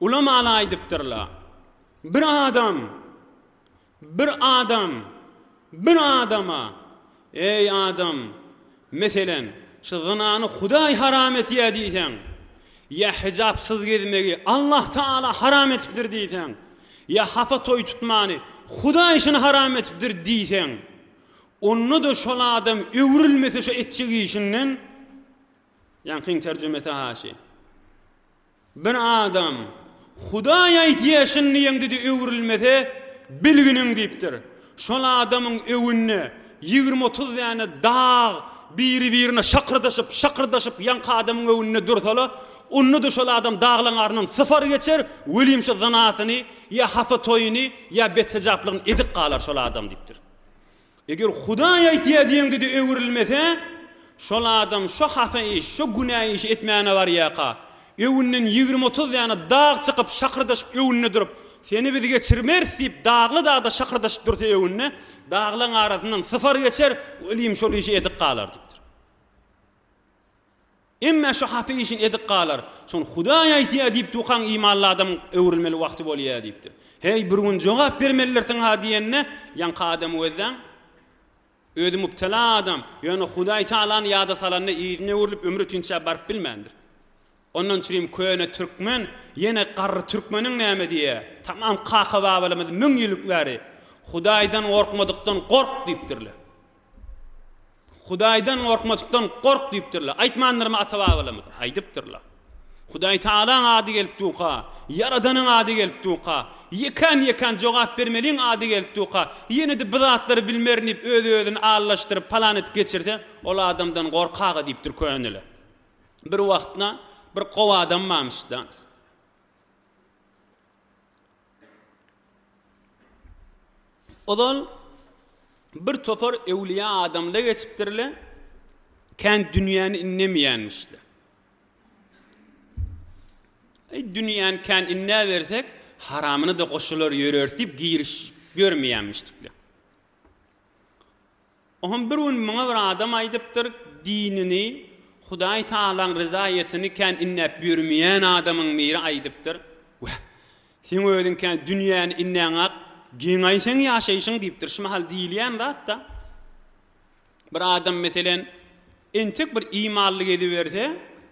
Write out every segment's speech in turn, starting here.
Ulamalar aýdypdyrlar, Bir adam, bir adam, bir adama, Eý, adam, meselen, şu zynany Hudaý haram etýär diýseň, ýa hijapsyz gezmegi Allah Tagala haram etipdir diýseň, ýa hapa toý tutmany Hudaý üçin haram etipdir diýseň, onda-da şol adam öwrülmese şu etjek işinden, Ýaňkyň terjimesi, haşy. Bir adam, Hudaý aýtýar, Şindi ýeňdide öwrülmese, bilginiň diýipdir. Şol adamyň öwünde ýigrimi-otuz däne dag biri-birine şakyrdaşyp, şakyrdaşyp ýaňky adamyň öwünde dursala, onda-da şol adam daglaň aryndan sypar geçer, welin şu zynasyny ýa hapa toýuny ýa bethejaplygyny edip galar şol adam diýipdir. Eger Hudaý aýtýar diýeňde-de öwrülmese, şol adam şo hata iş, şo günä işi etmäne barýarka, öňünden ýigrimi-otuz däne dag çykyp, şakyrdaşyp öňünde durup, Seni biz geçirmeris diýip, dagly dagda şakyrdaşyp dursa öňünde, daglaryň arasyndan sypar geçer, welin şol işi edip galar diýipdir. Emmä şu haty işin edik galar. Şony Hudaý aýtýar diýip tukaň imanly adam öwrülmeli wagty bolýar diýipdir. Heý, bir gün jogap bermelidirsiň-ha diýende, ýaňky adamy gözläň. Özi mübtela adam, ýöne Hudaý Tagalany ýada salanda yzyna öwrülip ömri tünçä baryp bilmändir. Ondan çürim köne türkmen ýene garry türkmeniň näme diýýär, tamam kaka-babalarymyz müň ýyl bäri Hudaýdan gorkmadykdan gork diýipdirler. Hudaýdan gorkmazlykdan gork diýipdirler. Aýtmandyrmy ata-babalarymyz? Aýdypdyrlar. Hudaý Tagalaň ady gelip durka, Ýaradanyň ady gelip durka, ýekän-ýekän jogap bermeliň ady gelip durka, ýene-de bu zatlary bilmerin diýip öz-özüni allaşdyryp palan edip geçirse, ol adamdan gork-aga diýipdir köneler. Bir wagtna bir gowy adam barmyş-da. Ozal bir topar öwlüýä adamla geçipdirle, kän dünýäni innemeýänmişle. Eý, dünýäni kän innäbersek, haramyna-da goşular ýöreris diýip, giriş görmeýänmişlikle. Oňam bir gün muňa bir adam aýdypdyr, Dinini, Hudaý Tagalaň ryzaýatyny kän inläp ýörmeýän adamyň biri aýdypdyr, Wah, seň özüň kän dünýäni inläňak, geňaý seň ýaşaýşyň diýipdir. Şu mahal diýilýän zat-da. Bir adam, meselen, entek bir imanly geziberse,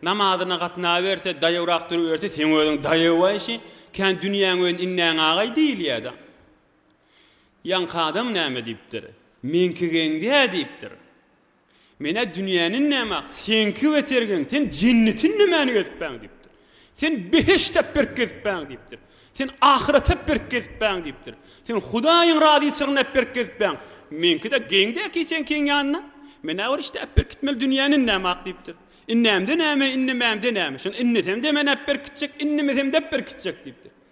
namazyna gatnaberse, daýawrak duruberse, seň özüň daýaw-aý, şi, kän dünýäňi özüň inläňagaý diýilýär-de. Ýaňky adam näme diýipdir? Meňki geň-dä diýipdir. Men-ä dünýäni inläm-ak, seňki beter geň, sen jenneti inlemäni gezipbäň diýipdir. Sen beheşt-ä berk gezipbäň diýipdir. Sen ahyraty-a berk gezipbäň diýipdir. Sen Hudaýyň razyçylygyny-a berk gezipbäň. Meňki-de geň-dä-ki seňkiň ýanyna. Men-ä bir işdäp berk gitmeli dünýäni inläm-ak diýipdir. Inlämde näme, inlemämde näme? Şony inlesemde men-ä berk gitjek, inlemesem-de berk gitjek diýipdir.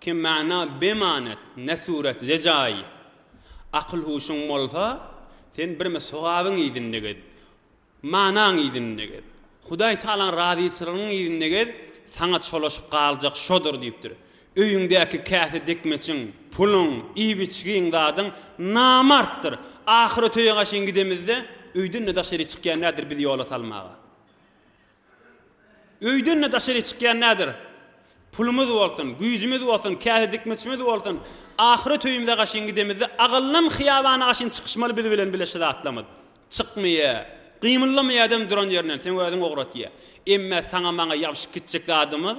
Kim mana bemanet, ne surat, ze jaý. Akyl-huşuň bolsa, sen birme sogabyň yzynda gez. Manaň yzynda gez. Hudaý Tagalaň razyçylygynyň yzynda gez, saňa çolaşyp galjak şodur diýipdir. Öýüňdäki käse dekmeçiň, puluň, iýip-içgiň, zadyň namartdyr. Ahyrötege gaşyn gidemizde, öýden-de daşary çykýan däldir bizi ýola salmaga. Öýden-de daşary çykýan nädir? Pulumyz bolsun, güýjümiz bolsun, käse dikmişimiz bolsun, ahyret öýümize gaşyn gidemizde agallam hyýabana gaşyn çykyşmaly biz bilen bile şu zatlamyz. Çykmaýa, gymyldamaýadam duran ýerinden, seň özüň ograt diýýä. Emmä saňa-maňa ýabşyp gitjek zadymyz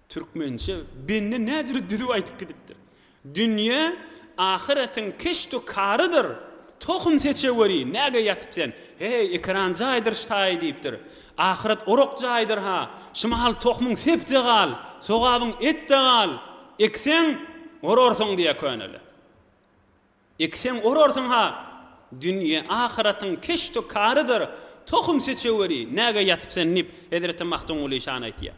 Türkmençe bende nädüri düzüp aýdyp gidipdir. Dünýe ahyretiň keşdu karydyr, tohum seçe weri, näge ýatyp sen, heý, ekeran jaýdyr ştaýy diýipdir. Ahyret orak jaýdyr-ha, şumahaly tohumyň sep-de gal, sogabyň et-de gal, ekseň, orarsyň diýýär köneler. Ekseň, orarsyň-ha, dünýe ahyretiň keşdu karydyr, tohum seçe weri, näge ýatyp sen diýip, hezreti Magtymguly şany aýtýar.